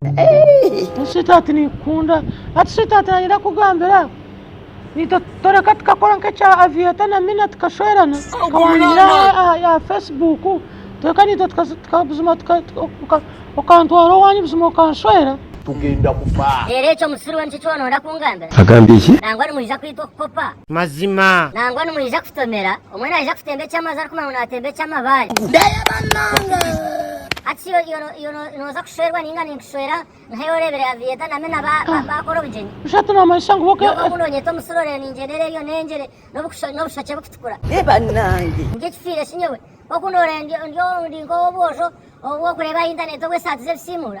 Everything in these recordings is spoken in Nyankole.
Hati sweetheart ninkukunda hati sweetheart nanyenda kukugambira Nita toreka tukakora nk'ekya Aviator na Mina tukashwerana nkawangira aha ya Facebook toreka Nita tuka- tuka- buzima tuka- tuka- oka- okantwara owanyu buzima okanshwera tugenda kufa. Reero ekyo omusiru we nikyo eki wanoyenda kungambira? Agambye ki? Nangwa nimwija kwita okukopa? Mazima. Nangwa nimwija kutomera? Omwe naija kutemba eky'amazi arikumanya ngu naatemba eky'amabaare. Ndeeba nange. Hati iwe nooza kushwerwa ninga ninkushwera nkayo oreebire Aviator na Mena baakora obugyenyi? Nyowe obu noonyeta omusiro reero ningyenda eri eriyo nengyere n'obushokye bukutukura. Ndeeba nange. Ndi ekifiire shi nyowe? Nk'oku nooreeba ndi nk'ow'obwojo obw'okureeba aha intaneeti obw'esaati z'ebisiimuura.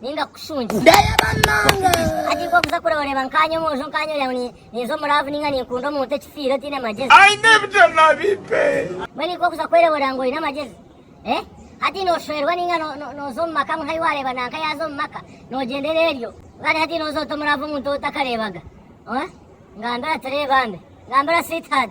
ninga kukushungya ndayaba munonga hati nk'okuza kure oreeba nkaanye omwojo nkaanye orya ngu ninza omuraavu ninga ninkunda omuntu ekifiire otaine magyezi aine ebijama bipe mbwenu nk'okuza kwereeba orya ngu oine amagezi eh? hati noshoherwa ninga noza omu maka ngu nkayi wareeba nanka yaza omu maka nogyendera eryo kandi hati noza ota omuraavu omuntu otakareebaga eh? ngambira ati reeba mbe ngambira sweetheart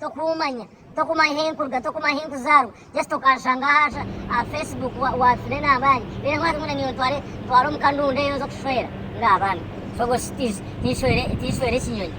Tokumanya, tokumanya ahu nkuruga, tokumanya ahu nkuzaarwa, just okanshanga aha aha Facebook waafire n'abaani, reero nkaza ngu na nyowe ntware ntware omu kanundu eyo nze okushwera nga abaana shoboshi tinshwere tinshwere ekinyonyi.